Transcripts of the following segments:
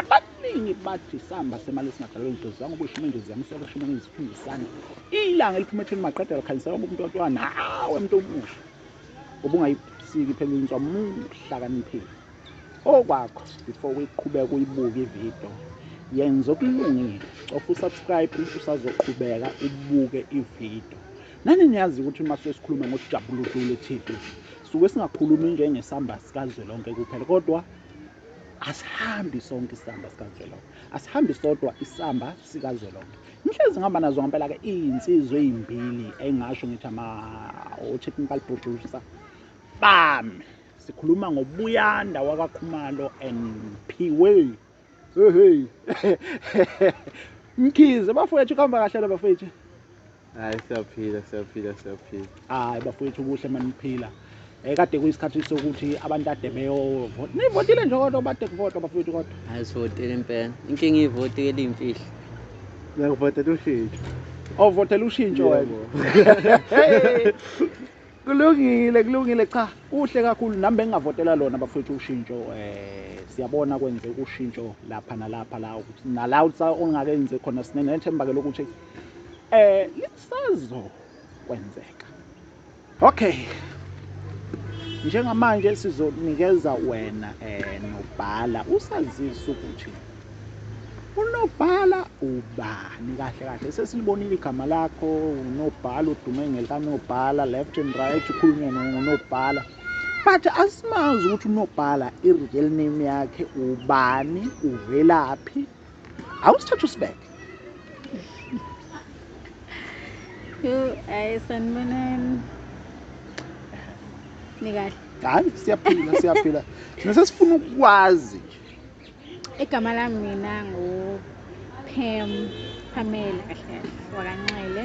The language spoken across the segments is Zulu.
Abaningi bathi isamba semali esingadalwe ingelosi zangoba ishuma ingelosi yamisela ishuma ingelosi iphinde isande. Ilanga eliphuma etheni maqeda lakhanyisela ngoba umuntu wathiwa nawe muntu omusha ngoba ungayisiki phela inswa muhlakaniphile. Okwakho before uyiqhubeka uyibuke ividiyo yenza okulungile cofa usubscribe usazoqhubeka ubuke ividiyo. Nani niyazi ukuthi uma suke sikhuluma ngokujabula udlule TV suke singakhulumi njengesamba sikazwelonke kuphela kodwa asihambi sonke isamba sikazwelonke asihambi sodwa isamba sikazwelonke ngihlezi ngihamba nazo ngampela-ke iy'nsizwa ey'mbili engingasho ngithi ama-technical producer bami sikhuluma ngobuyanda wakakhumalo and phiwe hehe mkhize bafowethu kuhamba kahle la bafowethu hayi siyaphila siyaphila siyaphila hayi bafowethu kuhle maniphila um eh, kade kuyisikhathi sokuthi abantu ade beyovota nivotile nje kodwa bade kuvotwa bafowethu kodwa hayi sivotile impela inkinga ivoti eliyimfihlo ngiyakuvotela ushintsho ovotela oh, ushintsho wena kulungile kulungile cha kuhle kakhulu nami bengingavotela lona bafowethu ushintsho um siyabona kwenze ushintsho lapha nalapha la nala ongakenze khona sinenethemba-ke lokuthi eh lisazokwenzeka okay njengamanje sizonikeza wena eh nobhala usazisa ukuthi unobhala ubani kahle kahle sesilibonile igama lakho unobhala udume ngelikanobhala left and right ukhulunywe ngonobhala but asimazi ukuthi unobhala i-real name yakhe ubani uvelaphi awusithatha usibeke yo ayi sanibonani nikahle hayi siyaphila siyaphila thina sesifuna ukwazi nje igama lami mina ngupam pamela kahle kahle wakanxele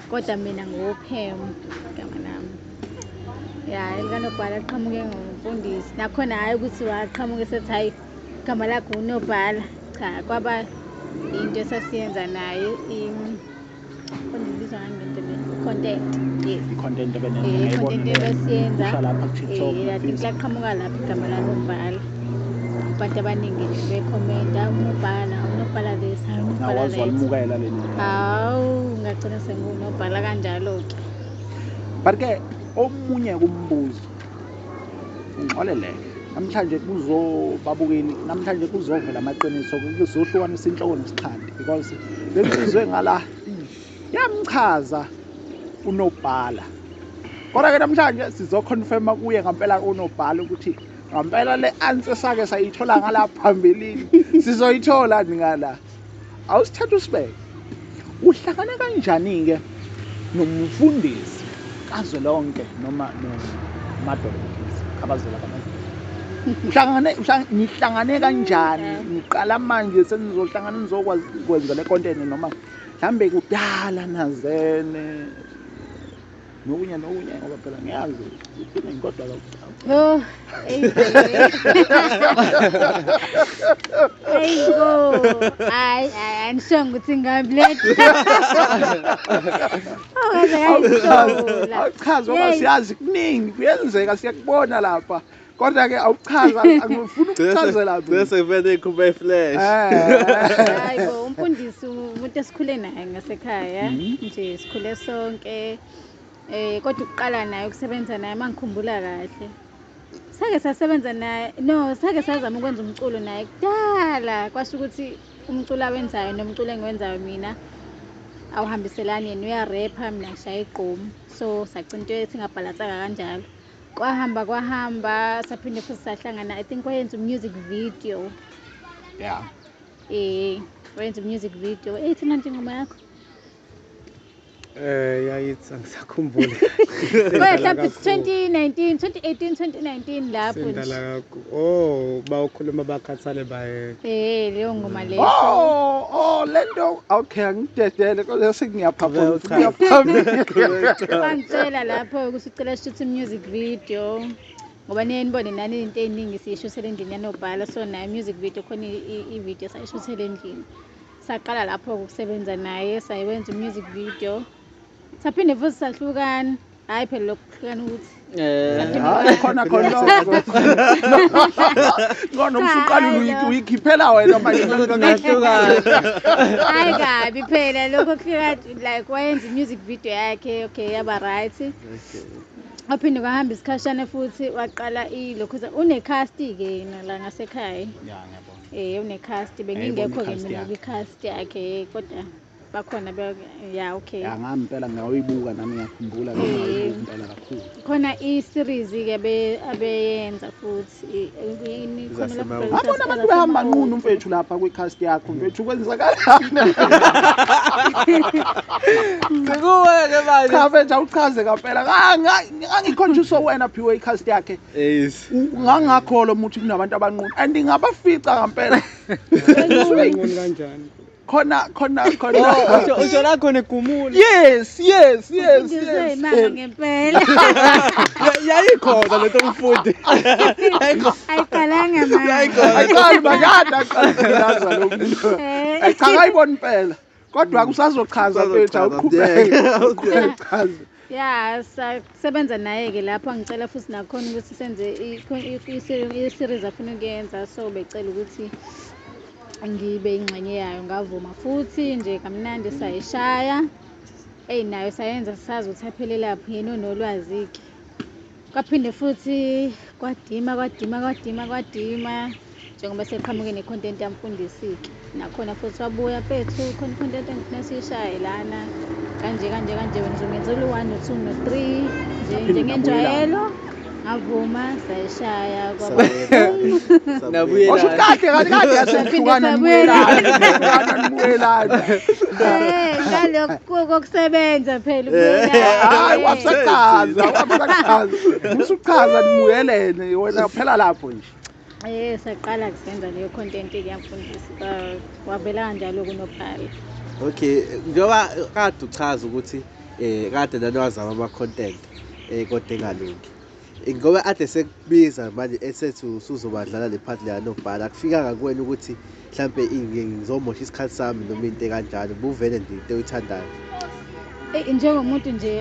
kodwa mina nguwuphem igama lami ya elikanobhala liqhamuke ngumfundisi nakhona hhayi ukuthi waqhamuke sethi hhayi igama lakho unobhala cha kwaba yinto esasiyenza naye ibizwa content yes i-content ebesiyenza eh, laqhamuka lapho igama lanobhala abantu abaningi nje bekhomenta unobhala unobhala this hayi unobhala awazi that walimukela leli hawu ngagcina sengunobhala kanjalo-ke but ke omunye kumbuzo ngixoleleke namhlanje kuzobabukeli namhlanje kuzovela amaqiniso kuzohlukanisa inhloko nesixhandi because lensizwe ngala yamchaza unobhala kodwa ke namhlanje sizoconfirma kuye ngampela unobhala ukuthi Ngampela le answer sake sayithola ngala phambilini. Sizoyithola ngala. Awusithatha usibeke. Uhlangana kanjani ke nomfundisi kazwelonke noma nomadolobhisi abazela uhlangane nihlangane kanjani niqala manje senizohlangana nizokwazi kwenza le content noma mhlambe kudala nazene nokunye nokunye ngoba phela ngiyazi iphinde ngikodwa oh eyi bo hayi hayi angisonge ukuthi ngamleta awuchazi ngoba siyazi kuningi kuyenzeka siyakubona lapha kodwa ke awuchaza angifuni ukuchazela mina bese vele ikhuphe iflash eh. hayi bo umfundisi umuntu esikhule naye ngasekhaya mhm. nje sikhule sonke eh kodwa ukuqala naye ukusebenza naye mangikhumbula kahle sake sasebenza naye no sake sazama ukwenza umculo naye kudala kwasho ukuthi umculo awenzayo nomculo engiwenzayo mina awuhambiselani yena uyarepha mina ngishaya igqomu so sagcina into singabhalansanga kanjalo kwahamba kwahamba saphinde futhi sahlangana i think wayenza umusic video ya eh wayenza umusic video ethi manje ingoma yakho eh yayithi angisakhumbuli mhlawumbe 2019 2018 2019 lapho sendala oh bawukhuluma bakhathale baye eh leyo ngoma leyo oh oh lento okay angidedele kodwa sengiyaphaphama ngiyaphambili bangitshela lapho ukuthi Cela shuthi music video ngoba niye nibone nani into eziningi siyishuthele endlini yanobhala so nayo music video khona i-video sayishuthele endlini saqala lapho ukusebenza naye sayiwenza umusic video saphinde futhi sahlukana hayi phela lokhu kuhlukana ukuthi Eh, khona khona ngona umsuqala uyikhiphela wena manje hayi kabi phela lokho kuhlukana like wayenza i-music video yakhe okay yaba right okay. waphinde kwahamba isikhashane futhi waqala ilokhuza unecasti-ke yena la ngasekhaya ya ngiyabona um unecasti bengingekho-ke i-cast mina yakhe. kwicasti yakhe kodwa bakhona be ya okay ya ngami impela ngawuyibuka nami ngiyakhumbula ngawuyibuka impela kakhulu khona i-series-ke abe- abeyenza futhi abona abantu behamba nqunu mfethu lapha kwi-cast yakho mfethu kwenzakalaniikuwe-ke manje mfethu awuchaze kampela ngangikhonjiswa wena phiwe i-cast yakhe ngangakholwa umuthi kunabantu abanqunu and ngabafica kampela khona khona khona usho la khona egumula yes yes yes yes eh. ngempela yayikhona lento umfundi ayiqalanga manje ayiqali makade aqalaza lo muntu eh. cha ayibona impela kodwa kusazochaza mfethu awuqhubeke uqhubeke chaza ya sasebenza naye-ke lapho angicela futhi nakhona ukuthi senze i-series afuna ukuyenza so becela ukuthi ngibe ingxenye yayo ngavuma futhi nje kamnandi sayishaya eyi nayo sayenza sazi ukuthi aphelelaphi yena onolwazi-ke Kwaphinde futhi kwadima kwadima kwadima kwadima njengoba seqhamuke ne-content yamfundisi-ke nakhona futhi wabuya pethu khona i-content engifuna siyishaye lana kanje kanje kanje wena uzongenzela u-one no-two no-three nje njengenjwayelo ngavuma sayishaya kwaba Nabuye Washo la. kahle kahle kahle yasehlukana Saphinde nibuyelana nibuyelana Eh, ngalokho kokusebenza phela hayi wasechaza wasechaza usuchaza nimuyelene wena phela lapho nje Eh saqala kusenza leyo content kuyamfundisa wavela kanjalo kunophala Okay njengoba kade uchaza ukuthi eh kade nanowazama ama content eh kodwa engalungi ngoba ade sekubiza manje esethi usuzobadlala le part leya nobhala akufikanga kuwena ukuthi mhlampe ngizomosha isikhathi sami noma into ekanjalo buvele nje into oyithandayo eyi njengomuntu nje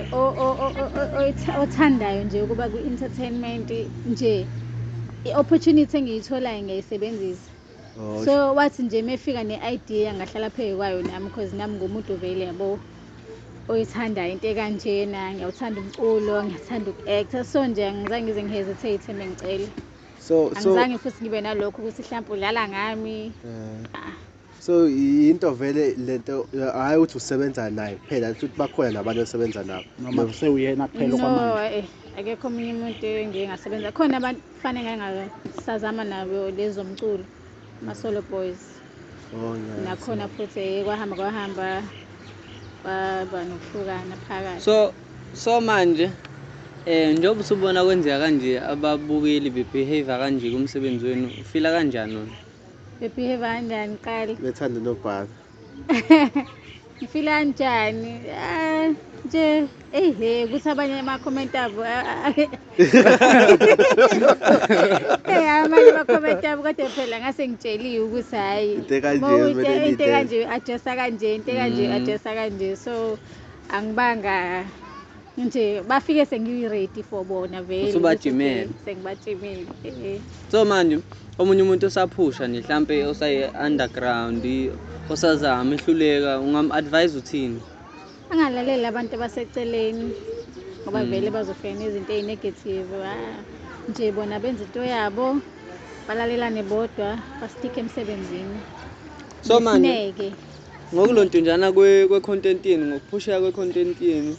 othandayo nje ukuba kwi-entertainment nje i-opportunity engiyitholayo ngiyayisebenzisa Oh, so wathi nje mefika ne-idea ngahlala phezu kwayo nami because nami ngumuntu vele yabo oyithandayo into ekanjena ngiyawuthanda umculo ngiyathanda uku-actor so nje angizange ngize ngihesitate mengicela so angizange futhi ngibe nalokho ukuthi mhlawumpe udlala ngami eh. ah. so yinto vele lento hhayi ukuthi usebenza naye kuphela futhi bakhona nabantu osebenza nabo noma kusewuyena kuphela no eh, akekho omunye umuntu engingasebenza khona abantu Fane ngake ngasazama nabo lezo mculo ama-solo boys oh, yes. nakhona futhi eh, kwahamba kwahamba kwaba nokuhlukana phakathi so so manje eh njengoba usubona kwenzeka kanje ababukeli bebehavior kanje kumsebenzi wenu ufila kanjani wena bebehave kanjani qali bethanda nobhaka ngifila njani ah, nje ehe ukuthi abanye ama-comment abo ah, ah, ah. Eh, amanye ama-comment abo kodwa phela ngase ngitsheliwe ukuthi hhayi Into ekanje ma uyi- kumele into niyidele. ekanje adressa kanje into ekanje Mm. adressa kanje so angibanga nje bafike sengiyi-ready for bona vele Usubajimele. sengibajimile eh. so manje omunye umuntu osaphusha nje mhlampe osayi-underground osazama ehluleka ungam-advise uthini angalaleli abantu abaseceleni ngoba Mm. vele bazofika nezinto eyi-negative ah, nje bona benza into yabo balalelane bodwa basitike emsebenzini so manje Nesineke. Ngokulontunjana kwe-content yenu, ngokuphusheka kwe-content yenu,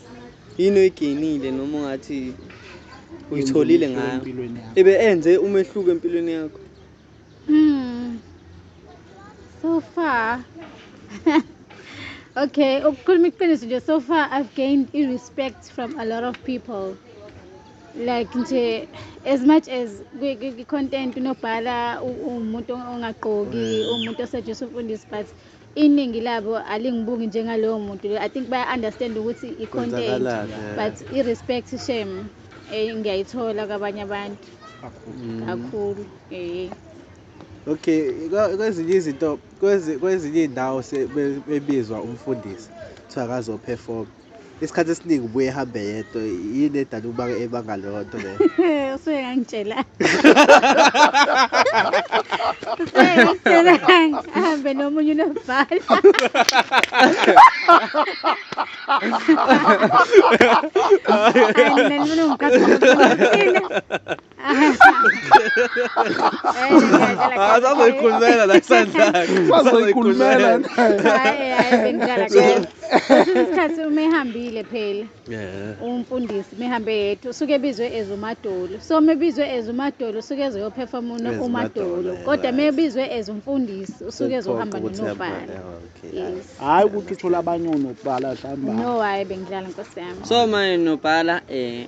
yini oyigenile noma ungathi uyitholile ngayo? Ibe enze umehluko empilweni yakho? Hmm. So far. okay, ukukhuluma iqiniso nje so far I've gained i-respect from a lot of people. like nje as much as kwi-content kunobhala umuntu ongagqoki mm. umuntu osejisa umfundisi but iningi labo alingibuki njengalowo muntu i think baya-understand ukuthi i-content but i-respect shame um eh, ngiyayithola kwabanye abantu kakhulu um eh. okay kwezinye izinto kwezinye iy'ndawo bebizwa umfundisi kuthiwa kazophefoma isikhathi esiningi ubuye ehambe yedwa yini edala ukuba ebanga leyo nto leyo usuke ngangitshela ahambe nomunye unobhala Ah, sazoyikhulumela la isandlakhe Sazoyikhulumela naye. Hhayi, hhayi, bengidlala kahle. Kwesinye isikhathi uma ehambile phela Yeah. umfundisi mehambe yedwa usuke ebizwe as umadolo so uma ebizwe as umadolo usuke ezoyophefoma As umadolo, umadolo yeah, kodwa uma right. ebizwe as umfundisi usuke ezohamba Ukuthi hamba, nonobhala yeah, okay. yes Hayi ukuthi uthole abanye onobhala hlamba. no hhayi bengidlala nkosi yami So my nobhala eh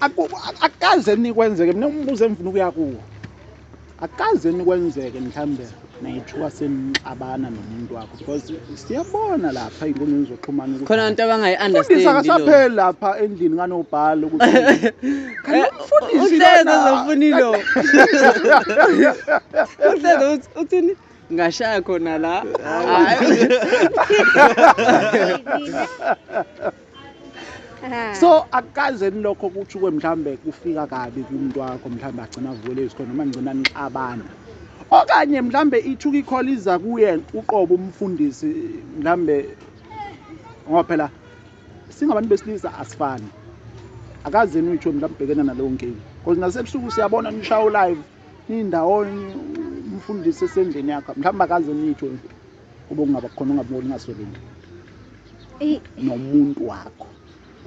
akukaze nikwenzeke mina umbuzo engifuna ukuya kuwo akukaze nikwenzeke mhlawumbe nayithuka senixabana nomuntu wakho because siyabona lapha ey'nkundleni zokuxhumana ukuthi khona abantu abangayi-understandisa akasapheli lapha endlini kanobhala ukuthi uhleze zofuna ilo uhleze uthini ngashaya khona la Ah. so akukaze nilokho kuthi kwe mhlawumbe kufika kabi kumuntu wakho mhlawumbe agcina avukele izikhona noma ngigcina nixabana okanye mhlawumbe ithuka ikhola iza kuye uqobo umfundisi mhlawumbe ngoba phela singabantu besilisa asifani akaze nitho mhlawumbe ubhekene naleyo nkinga because nasebusuku siyabona nishawo live niyindawonye umfundisi esendlini yakho mhlawumbe akaze nitho kube kungaba khona ungaboni ungasweli nje Eyi, nomuntu wakho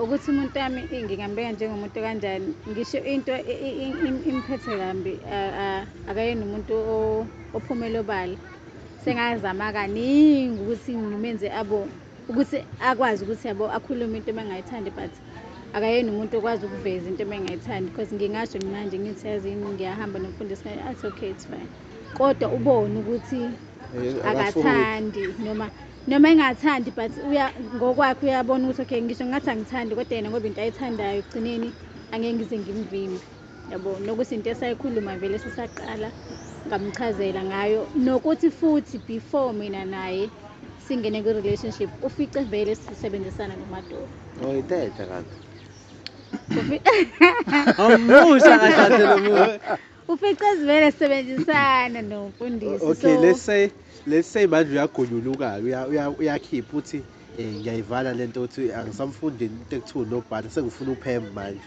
ukuthi umuntu wami eyi, ngingambeka njengomuntu kanjani ngisho into i- i- i- im- imphethe kambi a- a- akayena umuntu o- ophumela obala sengazama kaningi ukuthi ngimenze abone ukuthi akwazi ukuthi yabo akhulume into ebengayithandi but akayena umuntu okwazi ukuveza into ebengayithandi because ngingasho manje ngithi yazini ngiyahamba nomfundisi ngayo athi okay it's fine kodwa ubone ukuthi akathandi noma noma engathandi but uya ngokwakhe uyabona ukuthi okay ngisho ngathi angithandi kodwa yena ngoba into ayithandayo ekugcineni angeke ngize ngimvimbe yabo nokuthi into esayikhuluma vele sisaqala ngamchazela ngayo nokuthi futhi before mina naye singene kwi relationship ufice vele sisebenzisana nomadolo Uyithethe kanti. Awumusha kahle lo muntu. ufice sivele sisebenzisana nomfundisi Okay, so let's say let's say manje uyagunyuluka uya- uya- uyakhipha uthi eh ngiyayivala lento uthi angisamfundi into ekuthiwa unobhala sengifuna uphembe manje.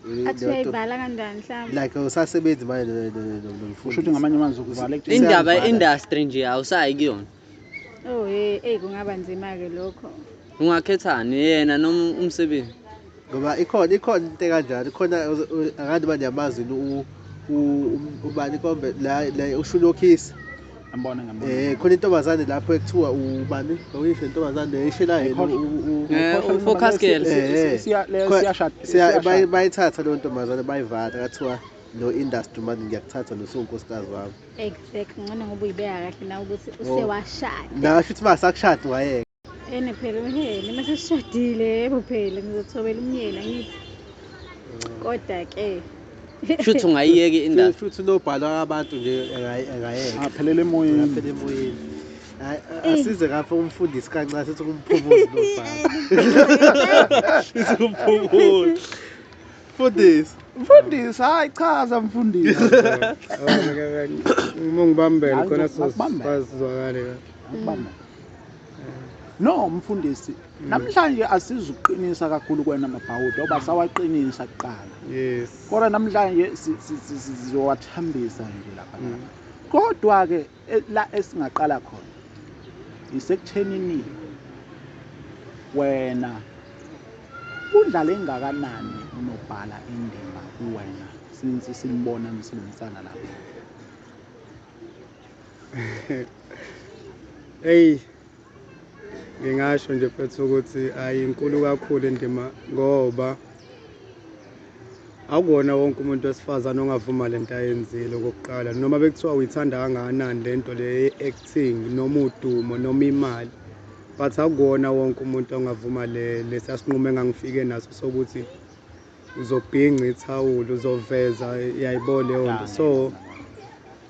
Eh, athi lento- uyayivala kanjani mhlawumbe Like usasebenzi manje no- no- no- no- no- Usho ukuthi ngamanye amazwi ukuvala Indaba ye-industry nje awusayi kuyona. Oh hey, hey kungaba nzima ke lokho. Ungakhethani yena noma umsebenzi? Ngoba ikhona ikhona into kanjalo, ikhona akade manje yamazi u ubani kombe la la ushulokhisi. Ngambona ngambona. Eh khona intombazane lapho ekuthiwa ubani? Uyisho intombazane eyishela yena u eh, focus girl. Eh, siya siyashada. Siya bayithatha lo ntombazane bayivala kathiwa no industry manje ngiyakuthatha nosunkosikazi wami. Exactly. Ngcono ngoba uyibeka kahle nawe ukuthi oh. usewashada. Ngasho ukuthi masakushada wayeka. Ene phela umyeni uma sesishadile yebo phela ngizothobela umyeni angithi. Mm. Kodwa ke Shuthi ungayiyeki indaba. Shuthi lobhalwa abantu nje engayeka. Aphelele emoyeni. Aphelele emoyeni. Eh. asize kafe umfundisi kancane sithi kumphumuzi lobhala sithi kumphumuzi Mfundisi. Mfundisi, hayi chaza mfundisi. Uma ngibambele khona sizozwakale kahle. No mfundisi, mm. namhlanje asizuqinisa kakhulu kwena mabhawuda oba sawaqinisa kuqala. Yes. Kodwa namhlanje sizowathambisa nje lapha. Mm. Kodwa ke E, la esingaqala khona isekuthenini wena udlale engakanani unobhala indima kuwena since simbona nisebenzisana lapha eyi ngingasho nje mfethu ukuthi ayinkulu kakhulu indima ngoba akukona wonke umuntu wesifazane ongavuma le nto ayenzile okokuqala noma bekuthiwa uyithanda kangakanani le nto le ye-acting noma udumo noma imali but akukona wonke umuntu ongavuma le lesiya sinqumo engangifike naso sokuthi uzobhinca ithawula uzoveza yayibona leyo nto so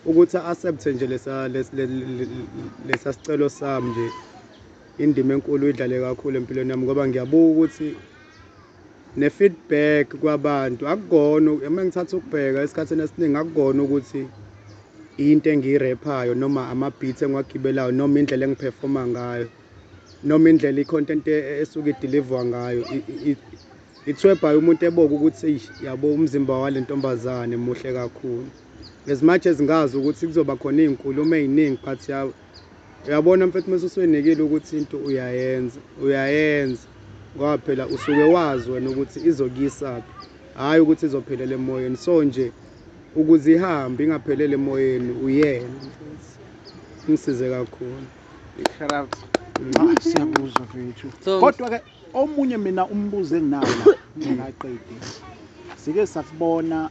Ukuthi accept nje lesa lesa sicelo sami nje indima enkulu idlale kakhulu empilweni yami ngoba ngiyabuka ukuthi ne feedback kwabantu akugona uma ngithatha ukubheka esikhathini esiningi akugona ukuthi into engiyirephayo noma ama-beat engiwagibelayo noma indlela engiphefoma ngayo noma indlela i-content e, e, esuke idilivwa ngayo ithwebhayo umuntu eboke ukuthi yabo umzimba wale ntombazane muhle kakhulu as much as ngazi ukuthi kuzoba khona iy'nkulumo ey'ningi but yawo uyabona mfethu uma usuyinikile ukuthi into uyayenza uyayenza ngoba phela usuke wazi wena ukuthi izokuyisaphi hhayi ukuthi izophelela emoyeni so nje ukuze ihambe ingaphelele emoyeni uyena mfethu ngisize kakhulu Shout out. Ah, siyakuzwa mfethu So- kodwa ke omunye mina umbuzo enginawo la ngingaqedi sike sasibona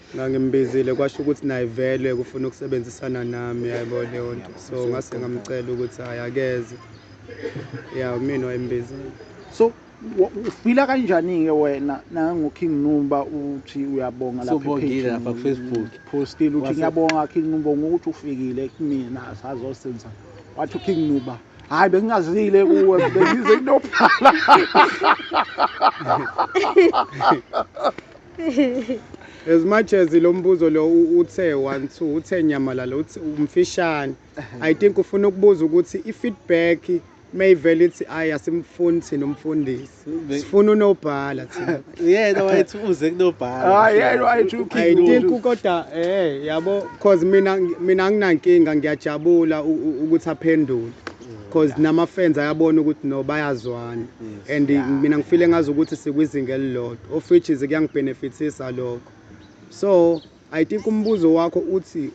ngangimbizile kwasho ukuthi naye vele kufuna ukusebenzisana nami yaybo leyo nto so ngase ngamcela ukuthi hayi akeze ya mina wayembizile so ufila kanjani-ke wena nangoking nuba uthi uyabonga laphafacebook postile uthi ngiyabonga king nuba ngokuthi ufikile kumina sazosenza wathi uking nuba hayi bengingazile kuwe bengize kunobhala as much as lo mbuzo lo uthe one two uthe nyamalala uthi umfishane i think ufuna ukubuza ukuthi i-feedback mayivele ithi ayi asimfuni thina umfundisi sifuna unobhala thina yena wayethi uze kunobhala hayi yena wayethi i think kodwa eh yabo cause mina mina anginankinga ngiyajabula ukuthi aphendule because nama fans ayabona ukuthi no bayazwana and mina ngifile ngazi ukuthi sikwizinga elilodwa of which is kuyangibenefitisa lokho so i think umbuzo wakho uthi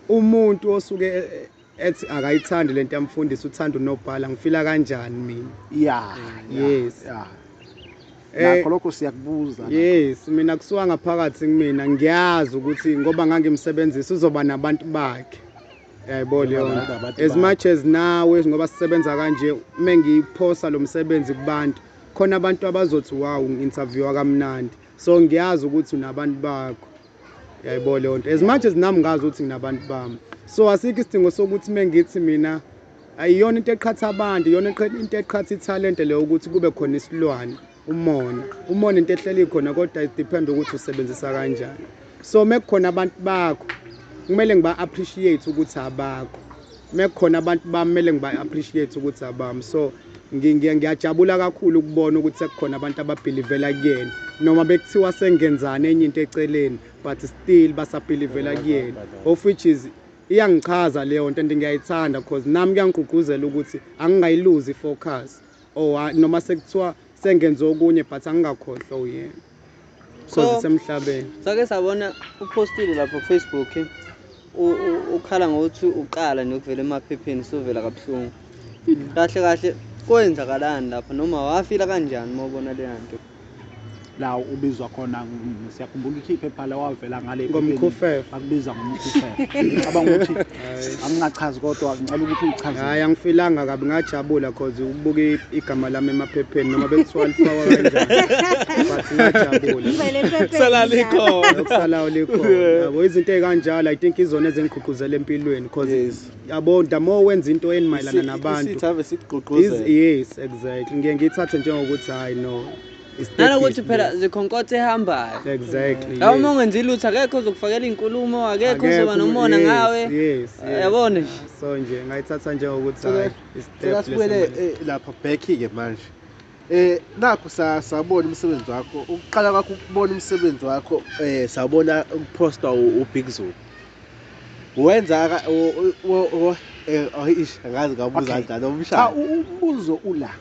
umuntu osuke e, e, ethi akayithandi lento yamfundisi uthanda unobhala ngifila kanjani mina yeah yes yeah Eh, nakho lokho siyakubuza yes mina kusuka ngaphakathi kumina ngiyazi ukuthi ngoba ngangimsebenzisa uzoba nabantu bakhe yaybo leon as much as nawe ngoba sisebenza kanje uma ngiyiphosa lo msebenzi kubantu khona abantu abazothi wawu ngi-interviewa kamnandi so ngiyazi ukuthi unabantu bakho yaybo leyo nto as much as nami ngazi ukuthi nginabantu bami so asikho isidingo sokuthi uma ngithi mina ayiyona into eqhatha abantu iyona into eqhatha ithalente leyo ukuthi kube khona isilwane umona umona into ehleli khona kodwa it depend ukuthi usebenzisa kanjani so mekukhona abantu bakho kumele ngiba appreciate ukuthi abakho mekukhona abantu bamele ngiba appreciate ukuthi abami so ngiyajabula kakhulu ukubona ukuthi sekukhona abantu ababhilivela kuyena noma bekuthiwa sengenzani enye into eceleni but still basabhilivela kuyena of which is iyangichaza leyo nto and ngiyayithanda because nami kuyangigqugquzela ukuthi angingayiluzi i-focus or oh, noma sekuthiwa sengenze okunye but angingakhohlwa uyena so zisemhlabeni sake sabona uphostile lapho kufacebook ukhala ngokuthi uqala nokuvela emaphepheni sovela kabuhlungu kahle kahle kwenzakalani lapho noma wafila kanjani uma ubona leya nto la ubizwa khona ng- siyakhumbula ukuthi iphepha la wavela ngale Ngomkhufefe. akubiza ngomkhufefe cabanga ukuthi angingachazi kodwa ngicela ukuthi uchaze hayi angifilanga kabi ngajabula cause ukubuka i- igama lami emaphepheni noma bekuthiwa lifakwa kanjani but ngajabula Ngivele ephepheni Kusala njalo. likhona. okusalayo likhona yabo izinto ey'kanjalo i think izona ezingigqugquzela empilweni cause Yes. yabo the more wenza into eni mayelana nabantu isithi ave sikugqugquzela yes exactly ngiye ngithathe njengokuthi hayi no nanokuthi phela zikhonkotha ehambayo exactly la uma ungenzi lutho akekho uzokufakela inkulumo akekho uzoba nomona ngawe yabona nje so nje ngayithatha njengokuthi hayi isibuyele eh, lapha back ke manje Eh nakho sawubona umsebenzi wakho. Ukuqala kwakho ukubona umsebenzi wakho eh sawubona ukuposta uBig Zulu. Wenza eh ayish angazi ngabuza kanjani umshaya. Cha umbuzo ula.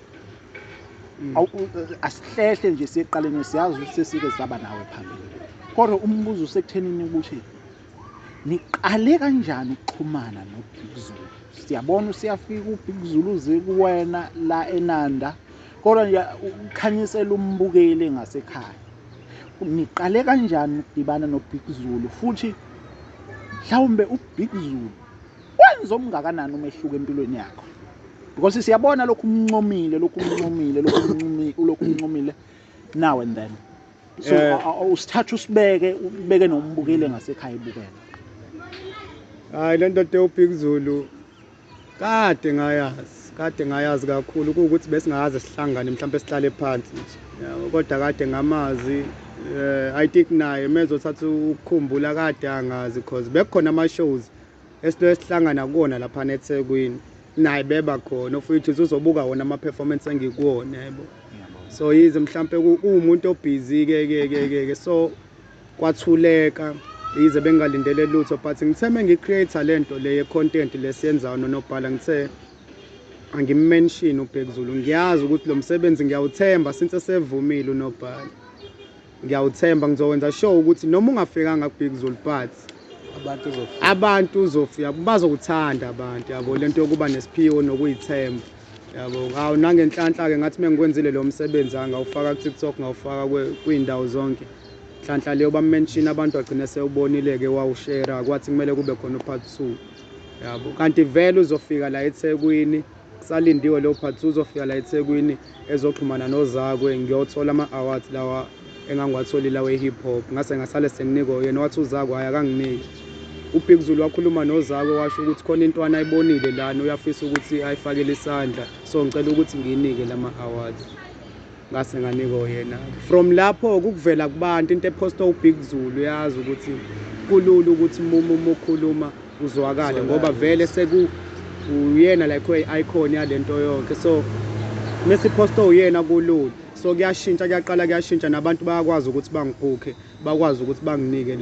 Mm. Asihlehle nje siqaleni siyazi ukuthi sesike saba nawe phambili. Kodwa umbuzo usekuthenini ukuthi niqale kanjani ukuxhumana nobig zulu siyabona usiyafika ubig zulu uze kuwena la enanda kodwa nje ukhanyisela umbukeli ngasekhaya niqale kanjani ukudibana nobig zulu futhi mhlawumbe ubig zulu wenza omngakanani umehluko empilweni yakho because siyabona lokhu umncomile lokhu umncomile lokhu umncomile now and then so Eh. a- a- usithatha usibeke ubeke nombukile ngasekhaya ibukele hayi le ndoda ewubhik zulu kade ngayazi kade ngayazi kakhulu kuwukuthi besingaze sihlangane mhlawumbe sihlale phansi nje Yabo, kodwa kade ngamazi um i think naye mezothatha ukukhumbula kade angazi cause bekukhona ama-shows esitolo esihlangana kuwona laphana ethekwini naye beba khona ofuyithu uzobuka wona ama-performance engikuwona yebo so yize mhlawumpe uwumuntu obhizi ke ke ke ke ke so kwathuleka yize bengalindele lutho but ngithe mengi-creator le nto le ye-content lesiyenzayo nonobhala ngithe angimenshini ubhekuzulu ngiyazi ukuthi lo msebenzi ngiyawuthemba since esevumile unobhala Ngiyawuthemba ngizokwenza sure ukuthi noma ungafikanga kubig Zulu but abantu uzofika abantu uzofika bazokuthanda abantu yabo lento yokuba nesiphiwo nokuyithemba yabo ngawo nangenhlanhla ke ngathi mengikwenzile lo msebenzi angawufaka ku TikTok ngawufaka kwindawo zonke nhlanhla leyo bamention abantu agcine sewubonile ke wawushare kwathi kumele kube khona upart 2 yabo kanti vele uzofika la eThekwini Salindiwe Leopards uzofika la eThekwini ezoxhumana nozakwe ngiyothola ama awards lawa engangiwatholile awe hip hop ngase ngasale senginikwa uyena wathi uzakwe hayi akanginiki uBig Zulu wakhuluma nozakwe washo ukuthi khona intwana ayibonile lana uyafisa ukuthi ayifakele isandla so ngicela ukuthi ngiyinike lama awards ngase nganike oyena from lapho kukuvela kubantu into ephosta ubig zulu uyazi ukuthi kulula ukuthi uma uma ukhuluma uzwakale ngoba vele seku uyena like oyi-icon yale nto yonke so mesiphosta uyena kulula so kuyashintsha kuyaqala kuyashintsha nabantu bayakwazi ukuthi bangibhukhe bakwazi ukuthi banginike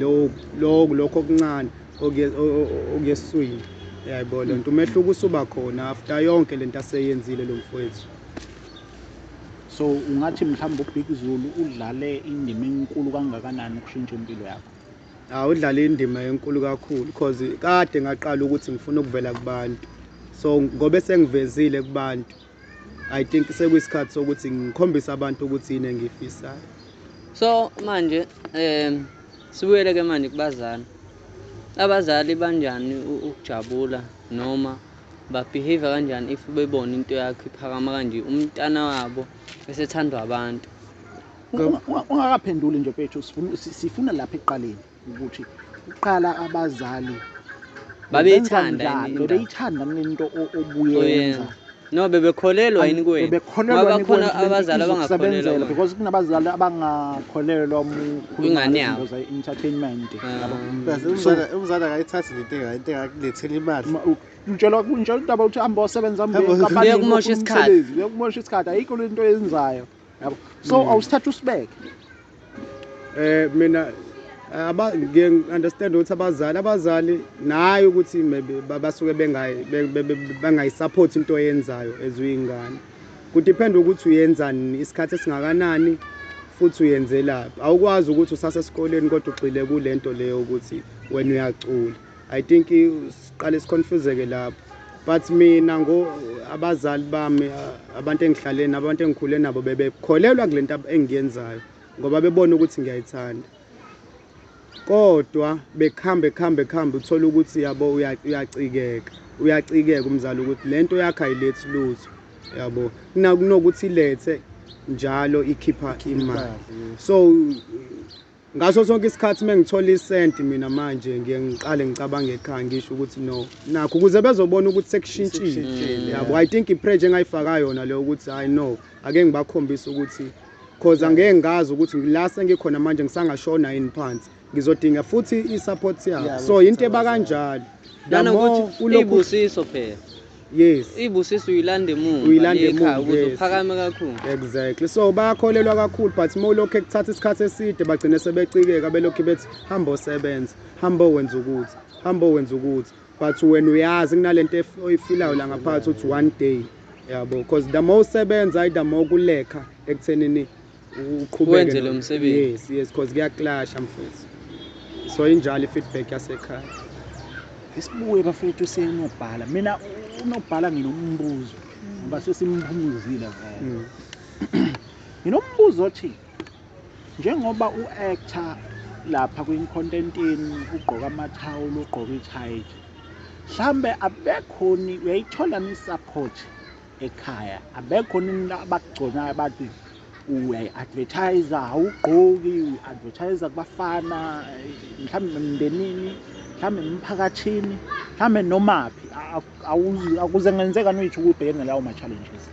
lokho lokho okuncane okuyeswini yayibona nto umehluko usuba khona after yonke le nto aseyenzile lo mfowethu So ungathi mhlawumbe uBig Zulu udlale indima enkulu kangakanani ukushintsha impilo yakho? Ah udlale indima enkulu kakhulu because kade ngaqala ukuthi ngifuna ukuvela kubantu. So ngobe sengivezile kubantu I think sekuyisikhathi sokuthi ngikhombise abantu ukuthi yini engiyifisayo. So manje um sibuyele ke manje kubazali. Abazali banjani ukujabula noma babehave kanjani if bebona into yakho iphakama kanje umntana wabo esethandwa abantu ungakaphenduli nje bethu sifuna lapha ekuqaleni ukuthi kuqala abazali babeyithanda bebeyithanda into obuyenza no bebekholelwa yini kuwena ngoba khona abazali abangakholelwa because kunabazali abangakholelwa Ingane yabo. Imbuza entertainment. Yabo. Kaze So- umzala umzala akayithathi lento enga- into engakulethela imali. Ma- u- Utshelwa kunjalo udaba ukuthi hamba osebenza Hamba- mbenkapani Kuye kumoshe isikhathi. Kuye kumosha isikhathi. Ayikho le nto yenzayo. Yabo. So Mm. awusithatha usibeke. Eh mina eh, aba ngiye understand ukuthi abazali abazali naye ukuthi maybe ba- basuke bengayi be- be- be- bangayisupport into oyenzayo ezuyingane. Kudiphenda ukuthi uyenzani, isikhathi esingakanani futhi uyenzelaphi. Awukwazi ukuthi usasesikoleni kodwa ugxile kule nto leyo ukuthi wena uyacula. I think siqale siconfuseke lapho. But mina ngo abazali bami abantu engihlale nabo abantu engikhule nabo bebekholelwa kule nto engiyenzayo ngoba bebona ukuthi ngiyayithanda. kodwa bekhambe khambe khambe uthola ukuthi yabo uyacikeka uyacikeka umzali ukuthi le nto yakhe ayilethi lutho yabo kunokuthi ilethe njalo ikhipha imali so ngaso sonke isikhathi uma ngithola isenti mina manje ngiye ngiqale ngicabange ekhaya ngisho ukuthi no nakho ukuze bezobona ukuthi sekushintshile yabo i think ipressure engayifaka yona leyo ukuthi hhayi no Ake ngibakhombise ukuthi cause angeke ngazi ukuthi ngila sengikhona manje ngisangashona yini phansi ngizodinga futhi i-support yabo Yeah, so yinto eba kanjalo The Lana more ukuthi ulokhu- ibusiso phela. yes Ibusiso uyilanda emuva. Uyilanda le ekhaya, emuva, ukuze yes. uphakame kakhulu. exactly so bayakholelwa kakhulu but uma ulokhu ekuthatha isikhathi eside bagcine sebecikeka belokhu bethi hambo sebenza hambo wenza ukuthi hambo wenza ukuthi but wena uyazi kunalento oyifilayo la ngaphakathi uthi one day yabo because the more usebenza i the more kulekha ekuthenini uqhubeke wenze lo msebenzi yes yes because kuyaclasha mfethu so injalo i-feedback yasekhaya isibuye bafethu senobhala mina unobhala nginombuzo ngoba sesimphumuzile vele mm. nginombuzo othi Njengoba u-actor lapha kwinkontentini ugqoka amathawula ugqoka ithayithi mhlambe abekhoni uyayithola ni-support ekhaya abekhoni abakugconayo bathi uyayi-advertise awugqoki uyi-advertise kubafana mhlawumbe emndenini mhlawumbe emphakathini mhlawumbe nomaphi akuze ngenzekani uyitho ukubhekene lawo ma-challenges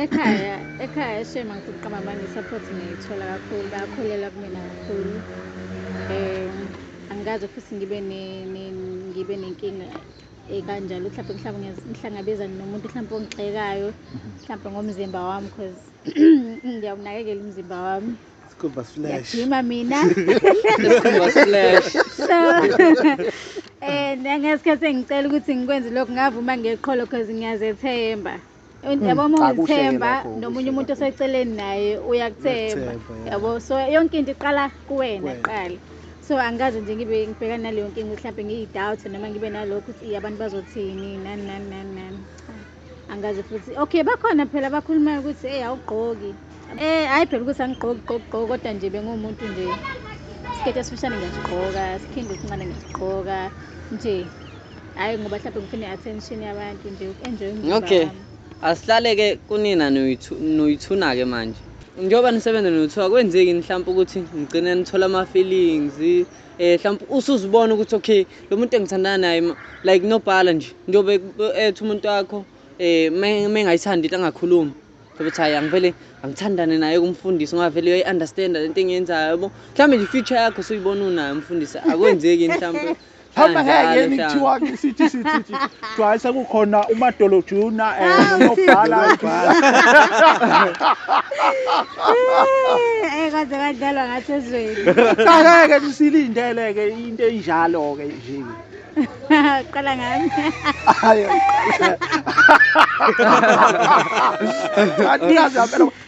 ekhaya ekhaya shema ngifuna uqamba manje support ngiyithola kakhulu bayakholelwa kumina kakhulu um angikaze futhi ngibe ngibe nenkinga ekanjalo mhlawumbe mhlawumbe ngihlangabezane nomuntu mhlawumbe ongixekayo mhlawumbe ngomzimba wami because ngiyawunakekela umzimba wami Scuba splash. Ngiyajima mina. Scuba splash. So eh ngesikhathi engicela ukuthi ngikwenze lokho ngavuma ngeqholo because ngiyazethemba. Hmm, yabo uma ungithemba nomunye umuntu oseceleni naye uyakuthemba yabo so yonke into iqala kuwena kuqala so angikaze nje ngibe ngibhekana naleyo nkinga mhlawumbe ngiyi-doubt noma ngibe nalokho ukuthi abantu bazothini nani nani nani nani angazi futhi okay bakhona phela bakhulumayo ukuthi eyi awugqoki eh hhayi phela ukuthi angigqoki gqoki gqoki kodwa nje benguwumuntu nje isiketi esifishane ngiyasigqoka sikhindi esincane ngiyasigqoka nje hhayi ngoba mhlawumbe ngifuna i-attention yabantu nje uku-enjoy okay asihlale-ke kunina noyithuna-ke manje njengoba nisebenza nothiwa kwenzeki mhlawumpe ukuthi nigcine nithola ama-feelings eh mhlawumbe usuzibona ukuthi okay lo muntu engithandana naye like nobhala nje njobe ethi umuntu wakho eh mengayithandi into angakhulumi sobe cha angivele angithandane naye kumfundisi ngoba vele uyayi understand lento engiyenzayo yabo mhlawumbe nje future yakho soyibona unayo umfundisi akwenzeki mhlawumbe Hamba ngeke ngithiwa sithi sithi kuthiwa hayi sekukhona umadolo juna um eh, nonobhala Eh kade kadlalwa ngathi ezweni. qakeke sisilindele-ke into enjalo-ke nje Qala ngami. hayi kanti kazi yampela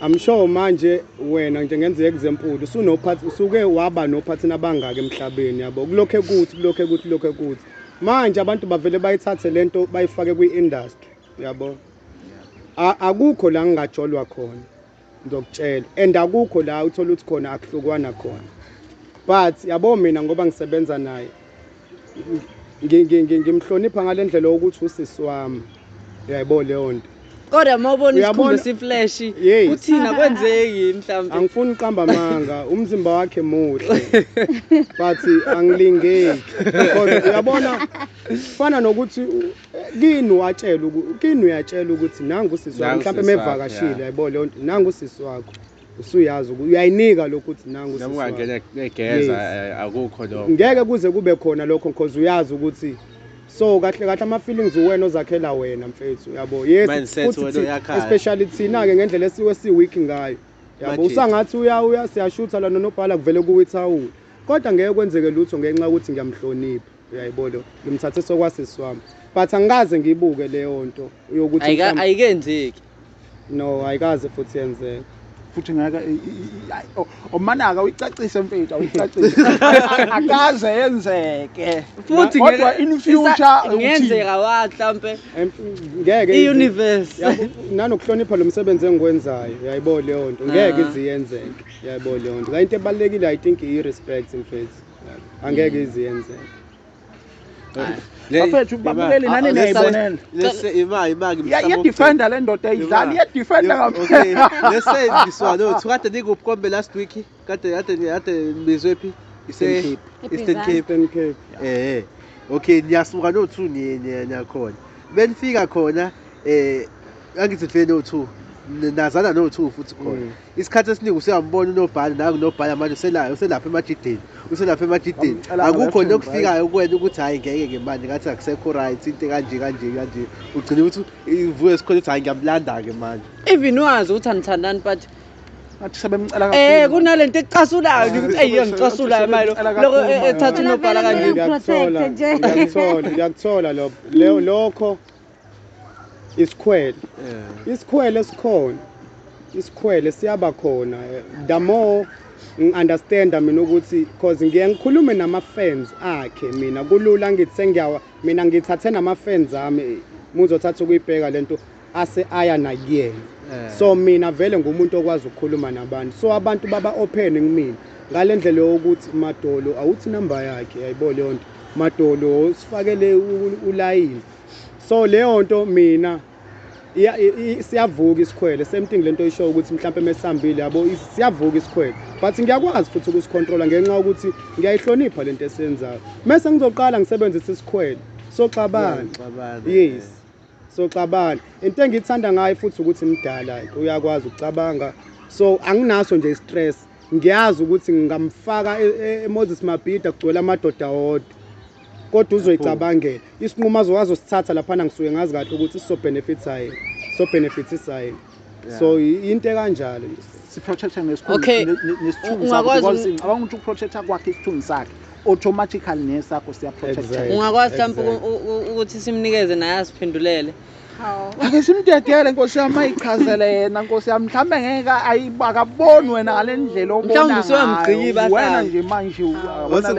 I'm sure manje wena nje ngenzeka kuzempulu usunophathi usuke waba nophathi nabangaka emhlabeni yabo kulokho ekuthi kulokho ekuthi kulokho ekuthi manje abantu bavele bayithathe lento bayifake kwi industry yabo akukho la ngingajolwa khona ngizokutshela and akukho la uthola ukuthi khona akuhlukwana khona but yabo mina ngoba ngisebenza naye ngimhlonipha ngale ndlela yokuthi usisi wami yayibona leyo nto kodwa uma ubona isikhumba siflash kuthina kwenzeki mhlawumbe angifuni uqamba manga umzimba wakhe muhle but angilingeki kodwa uyabona kufana nokuthi kini watshela kini uyatshelwa ukuthi nangu usisi wakho mhlawumbe mevakashile yayibona leyo nto nangu usisi wakho usuyazi uku- uyayinika lokhu ukuthi nangu noma usisi ungangena wami. begeza Yes. eh, akukho lokho ngeke kuze kube khona lokho because uyazi ukuthi so kahle kahle ama-feelings uwena ozakhela wena mfethu yabo yes Mindset futhi wena thi- oyakhayo. especially thina-ke ngendlela esiwe siweak ngayo yabo Majita. usangathi uya uya siyashutha lana nobhala kuvele kuwithawula kodwa ngeke kwenzeke lutho ngenxa yokuthi ngiyamhlonipha Uyayibona lo. Ngimthathe sokwasisi wami. But angikaze ngibuke leyo nto yokuthi Ayika mhlawumbe- ayikenzeki. no ayikaze futhi yenzeka. futhi ngeke i- i- i- ayi, o- omanaka uyicacise mfethu awuyicacise akaze yenzeke Futhi kodwa ngeke- in isa- future ukuthi ngenzeka wa mhlambe Em- Ngeke izi- i-universe. Yabo, nanokuhlonipha lo msebenzi engiwenzayo yayibona leyo nto ngeke Ah. ize yenzeke yayibona leyo nto la into ebalulekile i think iyi-respect mfethu angeke mm. iziyenze bafethu babukeli nani ah, niyayibonela iyadefenda le ndoda ayidlali iyadefenda ngampela let's say this one no kade nikubukombe last week kade kade kade nibizwe phi ise Eastern Cape Eastern Cape eh okay niyasuka no 2 niye niyakhona benifika khona eh angithi vele no 2 nazana no 2 futhi khona mm. isikhathi esiningi usuyambona unobhala nawe unobhala manje uselayo uselapha emajideni uselapha emajideni Bamcela akukho nje ngalephini, okufikayo kuwena ukuthi hhayi ngeke ke manje ngathi akusekho right into kanje kanje kanje ugcine ukuthi ivuke esikhona ukuthi hhayi ngiyamlanda-ke manje even wazi ukuthi anithandani but Ngathi sebemcela eh kunale nto ecasulayo nje ukuthi eyi engicasulayo manje lo- loko eh, ethatha unobhala kanje Ngiyakuthola, Protect nje. ngiyakuthola, ngiyakuthola lokho. Leyo- lokho isikhwele yeah. isikhwele sikhona isikhwele siyaba khona the more ngi-understanda mina ukuthi cause ngiye ngikhulume nama-fans akhe mina kulula ngithi sengiyawa mina ngithathe nama-fans ami muzothatha ukuyibheka le nto ase aya nakuyena eh. so mina vele ngumuntu okwazi ukukhuluma nabantu so abantu baba open kumina ngale ndlela yokuthi madolo awuthi number yakhe yayibo leyo nto madolo sifakele ulayini so leyo nto mina siyavuka isikhwele same thing lento isho ukuthi mhlawumbe mesihambile yabo siyavuka isikhwele but ngiyakwazi futhi ukusicontrola ngenxa ukuthi ngiyayihlonipha lento esiyenzayo mase ngizoqala ngisebenzise isikhwele soxabana yes soxabana into engiyithanda ngayo futhi ukuthi mdala uyakwazi ukucabanga so anginaso nje stress ngiyazi ukuthi ngingamfaka e, e, eMoses Mabhida kugcwele amadoda wodwa kodwa uzoyicabangela isinqumo azowazi usithatha laphana ngisuke ngazi kahle ukuthi siso benefits hayi so benefits isayi so into ekanjalo nje siprotector ngesithunzi sakho abanga ukuthi uprotector kwakhe isithunzi sakhe automatically nesakho siyaprotector ungakwazi mhlawumbe ukuthi simnikeze naye asiphendulele ake simdedele nkosi yami ayichazele yena nkosi yami mhlawumbe ngeke akaboni wena ngale ndlela obona wena nje manje wena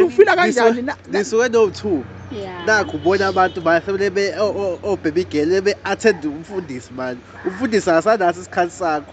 ufila kanjani nisuke no-two nakho ubona abantu basebenebe obhebigele be-attend umfundisi mani umfundisi akasanaso isikhathi sakho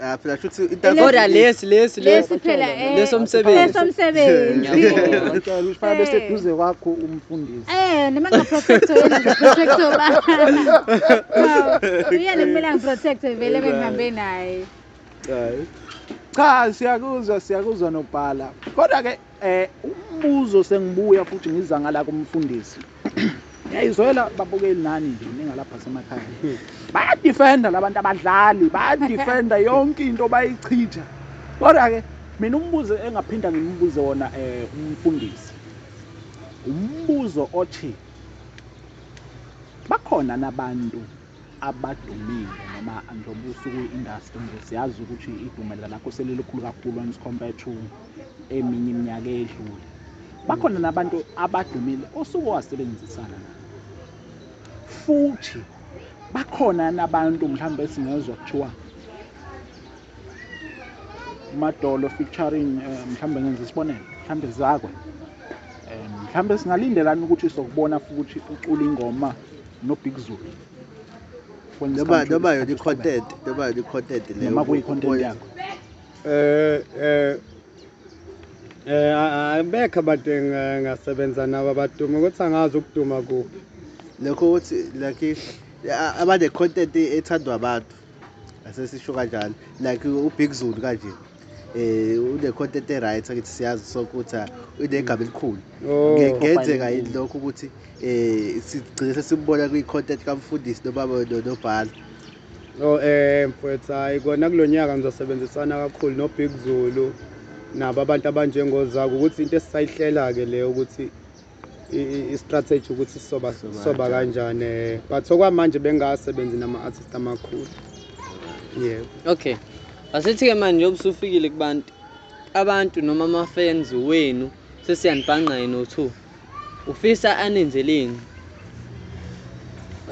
Ah, phela shuthi itansi kodwa lesi lesi lesi phela eh, leso msebenzi leso msebenzi ngiyacela usifana bese eh. duze kwakho umfundisi eh noma nga protector yena protector ba uyena kumele ngiprotector vele bengihambe naye cha siyakuzwa siyakuzwa nobhala kodwa ke Eh umbuzo sengibuya futhi ngiza ngala kumfundisi. Ngiyayizwela babukeli nani nje ningalapha semakhaya. Baya defender labantu abadlali, baya defender yonke into bayichitha. Kodwa ke mina umbuzo engaphinda ngimbuze wona eh umfundisi. Umbuzo othi bakhona nabantu abadumile noma njengoba usuku industry nje siyazi ukuthi idumela lakho selilukhulu kakhulu as compared to eminye iminyaka edlule bakhona nabantu abadumile osuke wasebenzisana futhi bakhona nabantu mhlawumbe singezwa kuthiwa umadolo featuring eh, mhlawumbe ngenza isibonelo mhlawumbe zakwe eh, mhlawumbe singalindelani ukuthi sokubona futhi ucula ingoma nobig zulu noma noma yona i-content noma yona i-content leyo noma kuyi-content yakho eh eh eh abekho abantu engasebenza nabo abaduma ukuthi angazi ukuduma kuphi lokho ukuthi like abane-content ethandwa abantu asesisho kanjalo like ubig zulu kanje eh une-content e-right angithi siyazi sonke ukuthi ah, unegama elikhulu Oh. Nge- kungenzeka yini lokho ukuthi um sigcine sesimbona kwi-content kamfundisi noma no- nobhala Oh eh mfwethu hayi kona kulonyaka ngizosebenzisana kakhulu no Big Zulu nabo abantu abanjengozaku ukuthi into esisayihlela ke le ukuthi i-strategy ukuthi soba soba kanjani eh, but okwamanje bengasebenzi nama-artist amakhulu yebo okay asithi-ke manje njengoba usufikile kubantu abantu noma ama-fans wenu sesiyanibhanqa yena o-two ufisa aninzeleni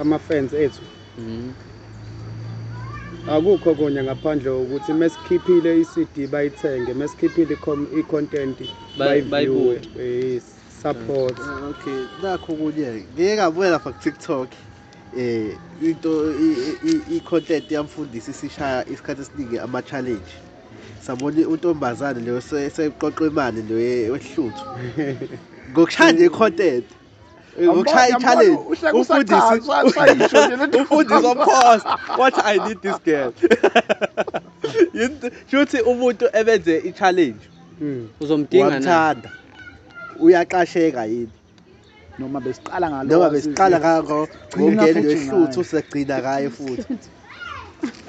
ama-fans ethu Mm. Akukho konye ngaphandle ukuthi mesikhiphile iCD bayithenge, mesikhiphile icontent bayiviewe. Yes, support. Eh, okay, nakho kunye. Ngeke ngabuya lapha ku TikTok. Eh into icontent yamfundisi sishaya isikhathi esiningi ama challenge. Sabona untombazane leyo seyiqoqa imali leyo wehluthu. Ngokushaya icontent. uchaye challenge umfundisi umfundisi of course what i need this girl shuthi umuntu ebenze i challenge hmm. uzomdinga wamthanda uyaqasheka yini noma besiqala ngalo noma besiqala ngakho ngeke ngehluthu segcina kaye futhi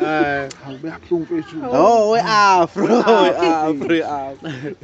Eh, hawu beyabuhlungu mfethu. Oh, we afro, we afro, we afro.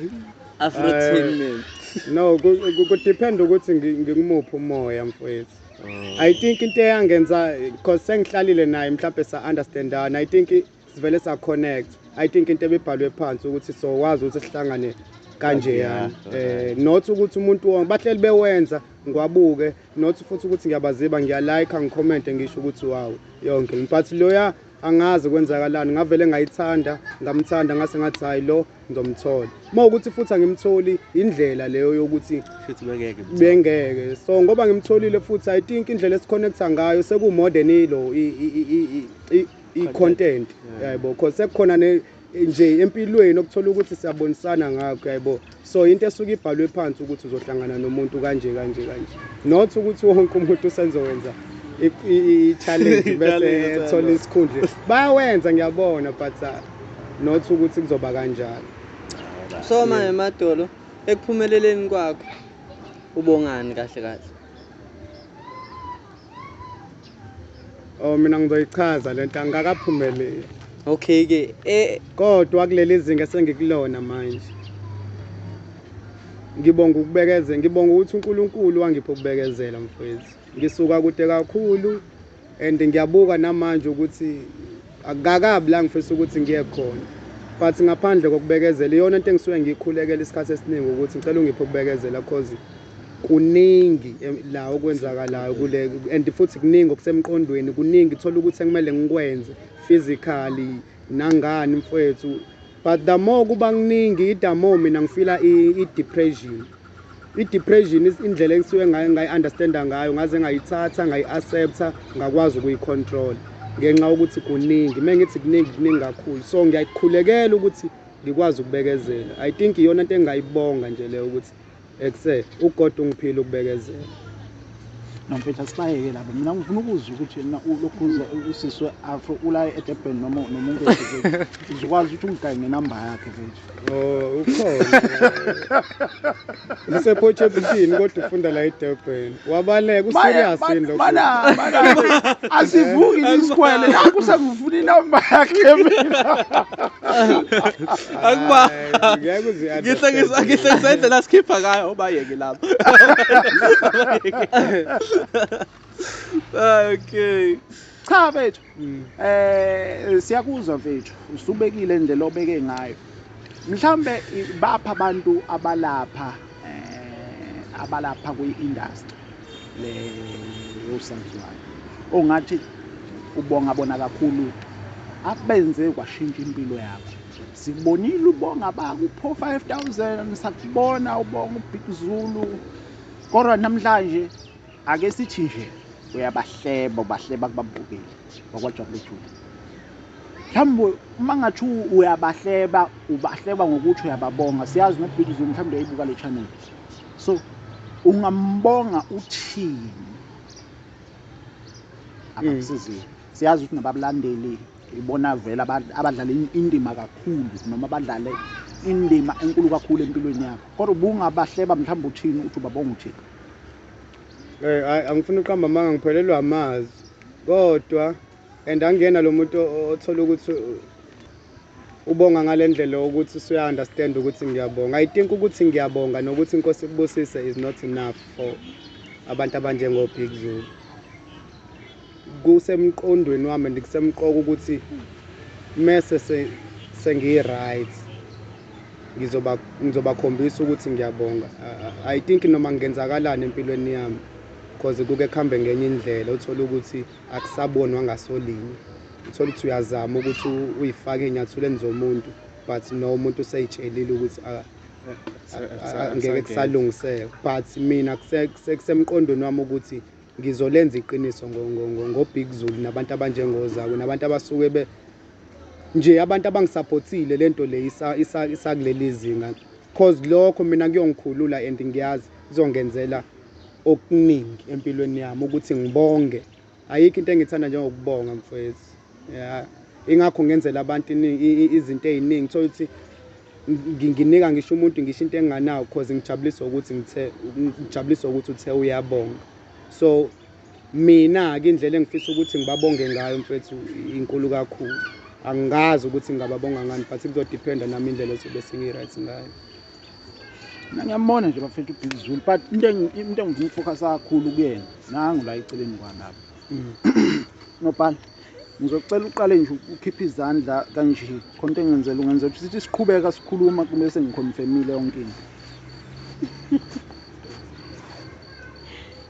Afro Eh. team. No, ku- ku- ku depend ukuthi ngi- ngikumuphi umoya mfethu. Oh. I think into eyangenza because sengihlalile naye mhlawumbe sa understandana. I think i- sivele sa connect. I think into ebibhalwe phansi ukuthi so wazi ukuthi sihlangane kanjeyana. Yeah, Eh not ukuthi umuntu wonke bahleli bewenza ngwabuke not futhi ukuthi ngiyabaziba ngiyalike ngicommente ngisho ukuthi wawu yonke but loya angazi kwenzakalani ngavele ngayithanda ngamthanda ngase ngathi hhayi lo ngizomthola uma ukuthi futhi angimtholi indlela leyo yokuthi bengeke so ngoba ngimtholile futhi i think indlela esikhonekta ngayo sekumodern ilo i-content yebo cause sekukhona nje empilweni okuthola ukuthi siyabonisana ngakho yayibo so into esuke ibhalwe phansi ukuthi uzohlangana nomuntu kanje kanje kanje not ukuthi wonke umuntu usenzowenza i-challenge bese ethola isikhundla bayawenza ngiyabona but uh, not ukuthi kuzoba kanjalo so manje madolo ekuphumeleleni kwakho ubongani kahle kahle Oh mina ngizoyichaza lento angikakaphumeleli. Okay ke eh kodwa kuleli zinga sengikulona manje. Ngibonga ukubekezela, ngibonga ukuthi uNkulunkulu wangipha ukubekezela mfowethu. Ngisuka kude kakhulu and ngiyabuka namanje ukuthi akakabi la ngifisa ukuthi ngiye khona. But ngaphandle kokubekezela iyona into engisuke ngiyikhulekela isikhathi esiningi ukuthi ngicela ungiphe ukubekezela cause kuningi la okwenzakalayo kule and futhi kuningi okusemqondweni kuningi thola ukuthi ekumele ngikwenze physically nangani mfwethu but the more kuba kuningi the more mina ngifila i-depression i-depression indlela engisuke ngayi-understanda ngayo ngaze ngayithatha ngayi-accepta ngakwazi ukuyi-control ngenxa yokuthi kuningi uma ngithi kuningi kuningi kakhulu so ngiyakukhulekela ukuthi ngikwazi ukubekezela i think iyona nto engingayibonga nje leyo ukuthi Ekse uGod ungiphile ukubekezela. Nomfethu sibayeke labo. Mina ngifuna ukuzwa ukuthi mina ulokhuze usiswe afro ulaye eDurban noma nomuntu eDurban. Uzokwazi ukuthi ungigaye ngenamba yakhe mfethu. Oh, ukhona. Usephothe ebushini kodwa ufunda la eDurban. Wabaleka u serious yini lokho? Mana mana asivuki isikwele yakho sekuvuna inamba yakhe mina. Akuba ngeke uzi ngihlekisa ngihlekisa indlela sikhipha ngayo obayeke lapho. Okay. Cha bethu mm. eh siyakuzwa mfethu usubekile indlela obeke ngayo mhlambe bapha abantu abalapha eh abalapha kwi-industry le yosaziwayo ongathi ubonga bona kakhulu abenze kwashintsha impilo yakho sikubonile ubonga bakupho 5000 sakubona ubonga ubig zulu kodwa namhlanje Ake sithi nje uyabahleba ubahleba kubabukeli bakwajabule jule mhlawumbe uma ngathi uyabahleba ubahleba ngokuthi uyababonga siyazi nobig zoom mhlawumbe uyayibuka le channel so ungambonga uthini abakusizile hmm. siyazi ukuthi nababulandeli ibona vele abadlala indima kakhulu noma badlale indima enkulu kakhulu empilweni yabo kodwa ubungabahleba mhlawumbe uthini uthi ubabonga uthini Eh hayi angifuni uqamba amanga ngiphelelwa amazi. Kodwa and angena lo muntu othola ukuthi ubonga ngalendlela ukuthi suya understand ukuthi ngiyabonga. I think ukuthi ngiyabonga nokuthi inkosi kubusise is not enough for abantu abanjengo Big Zulu. Kusemqondweni wami and kusemqoka ukuthi mese se sengiyi-right ngizoba ngizobakhombisa ukuthi ngiyabonga. I think noma kungenzakalani empilweni yami cause kuke kuhambe ngenye indlela uthole ukuthi akusabonwa ngasolinye. Uthole ukuthi uyazama ukuthi uyifake ey'nyathulweni zomuntu but no umuntu usey'tshelile ukuthi ngeke kusalungiseka but mina kusemqondweni wami ukuthi Ngizolenza iqiniso ngoBig Zulu nabantu abanjengoZakwe nabantu abasuke be nje abantu abangisaphothile le nto le isakuleli zinga cause lokho mina kuyongikhulula and ngiyazi kuzongenzela okuningi empilweni yami ukuthi ngibonge ayikho into engithanda njengokubonga mfowethu ya ingakho ngenzela abantu izinto eziningi thola ukuthi nginginika ngisho umuntu ngisho into enganawo cause ngijabuliswa ukuthi ngithe ngijabuliswa ukuthi uthe uyabonga so mina-ke indlela engifisa ukuthi ngibabonge ngayo mfethu inkulu kakhulu angazi ukuthi ngingababonga ngani but kuzodiphenda nami indlela ezobe sengi-right ngayo mina ngiyambona nje bafethu ubig zulu but into engifuna ukufocus kakhulu kuyena nangu la eceleni kwami lapho nobhala ngizocela uqale nje ukhiphe izandla kanje khonto engenzela ungenzela ukuthi sithi siqhubeka sikhuluma kumele sengikhonfemile yonke into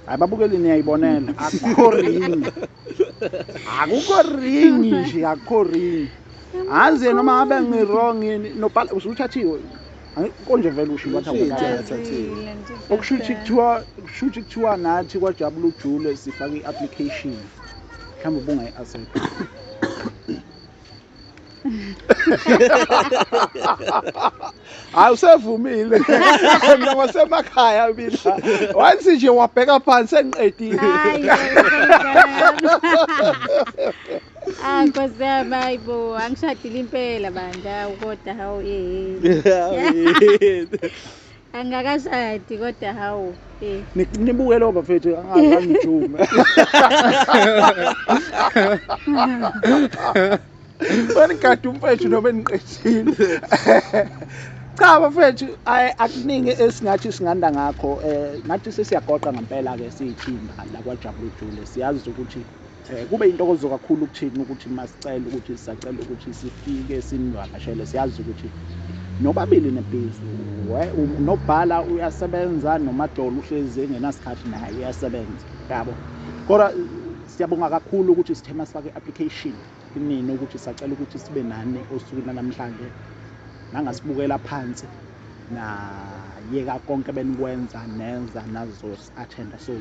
hayi babukeli niyayibonela akukho ringi akukho ringi nje akukho ringi azi noma abe ngirong yini nobhala usuthathiwe konje vele usho ukuthi akuthathile okusho ukuthi kuthiwa kusho ukuthi kuthiwa nathi kwajabula ujule sifake i-application mhlawumbe ubungayi-accept hayi usevumile mina wasemakhaya mina once nje wabheka phansi engiqedile Ah nkosi yami hayibo angishadile impela bandla kodwa hawu eh. Angikakashadi kodwa hawu eh. Nibuke lo bafethu angangijuma. Banigada umfethu noma eniqeshile. Cha bafethu akuningi esingathi singanda ngakho eh ngathi sesiyagoqa ngempela ke siyithimba la kwaJabulujule siyazi ukuthi Eh, kube intokozo kakhulu kuthina ukuthi masicela ukuthi sisacela ukuthi sifike sinivakashele siyazi ukuthi nobabili nebhizi nobhala uyasebenza nomadolo uhlezi engenasikhathi naye uyasebenza yabo kodwa siyabonga kakhulu ukuthi sithe masifake i-application inini ukuthi sacela ukuthi sibe nani osukwini lanamhlanje nangasibukela phansi nayeka konke benikwenza nenza nazosi athenda so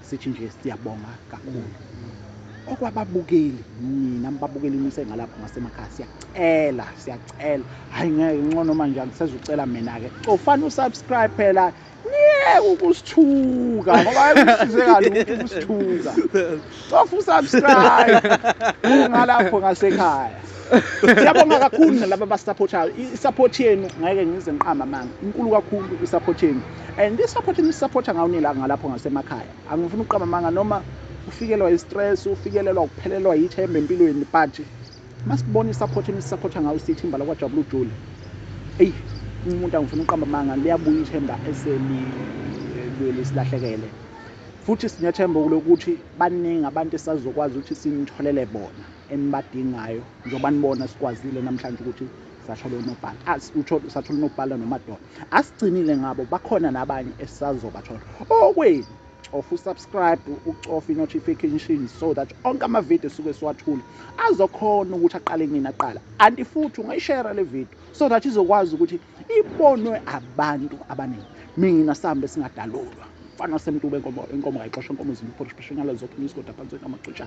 sithi nje siyabonga kakhulu okwababukeli nina mbabukeli nise ngalapho ngasemakhaya siyacela siyacela hayi ngeke incono manje angisezucela mina ke cofana usubscribe phela niye ukusithuka ngoba kusizeka lutho ukusithuka Sofa usubscribe ungalapho ngasekhaya. Siyabonga kakhulu nalabo abasupportayo. I-support yenu ngeke ngize ngiqamba amanga. Inkulu kakhulu i-support yenu. And i-support enisupporta ngayo nila ngalapho ngasemakhaya. Angifuni ukuqamba amanga noma ufikelwa i-stress, ufikelelwa ukuphelelwa yithemba empilweni but masibona i-support enisupporta ngayo sithimba lakwajabula ujule. Eyi umuntu angifuni ukuqamba amanga liyabuya ithemba eselibuyele silahlekele. Futhi sinethemba lokuthi baningi abantu esazokwazi ukuthi sinitholele bona enibadingayo njengoba nibona sikwazile namhlanje ukuthi sathola unobhala asithola sathola unobhala nomadoda asigcinile ngabo bakhona nabanye esisazobathola okwenu cofa usubscribe ucofa i-notification so that onke amavidiyo esuke siwathula azokhona ukuthi aqale nini aqala anti futhi ungayishera le vidiyo so that izokwazi ukuthi ibonwe abantu abaningi mina sambe singadalulwa mfana wasemtuba enkomo enkomo kayixosha enkomo zimbi for special ngalo zokho ngizigoda phansi kwamaxutsha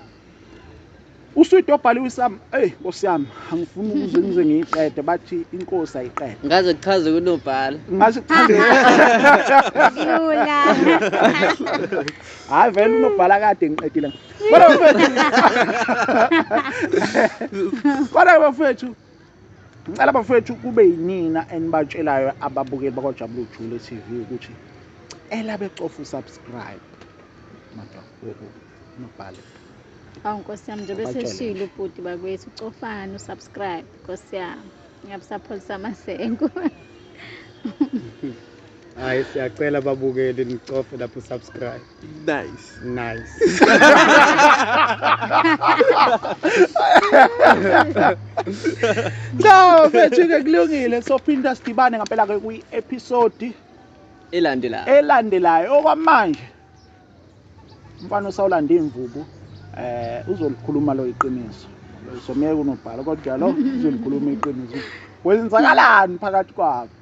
uswidi obhaliwe isam eyi nkosi yami angifuni ukuze ngize ngiyiqede bathi inkosi ayiqede ngaze kuchaze kunobhala ngaze kuchaze hayi vele unobhala kade ngiqedile kodwa bafethu kodwa bafethu ngicela bafethu kube yinina enibatshelayo ababukeli bakwajabula ujule TV ukuthi cela becofa usubscribe madam woku nobhale awu nkosi yami njengoba eseshilo ubhuti bakwethu cofani usubscribe nkosi yami ngiyabusapholisa amasenko hayi siyacela babukeli nicofe lapho subscribe nice nice no mfethu-ke kulungile sophinda sidibane ngampela-ke kwi-episodi elandelayo elandelayo okwamanje umfana osawulanda iy'mvubu eh uzolikhuluma lo iqiniso somyeke unobhala kodwa lo uzolikhuluma iqiniso kwenzakalani phakathi kwabo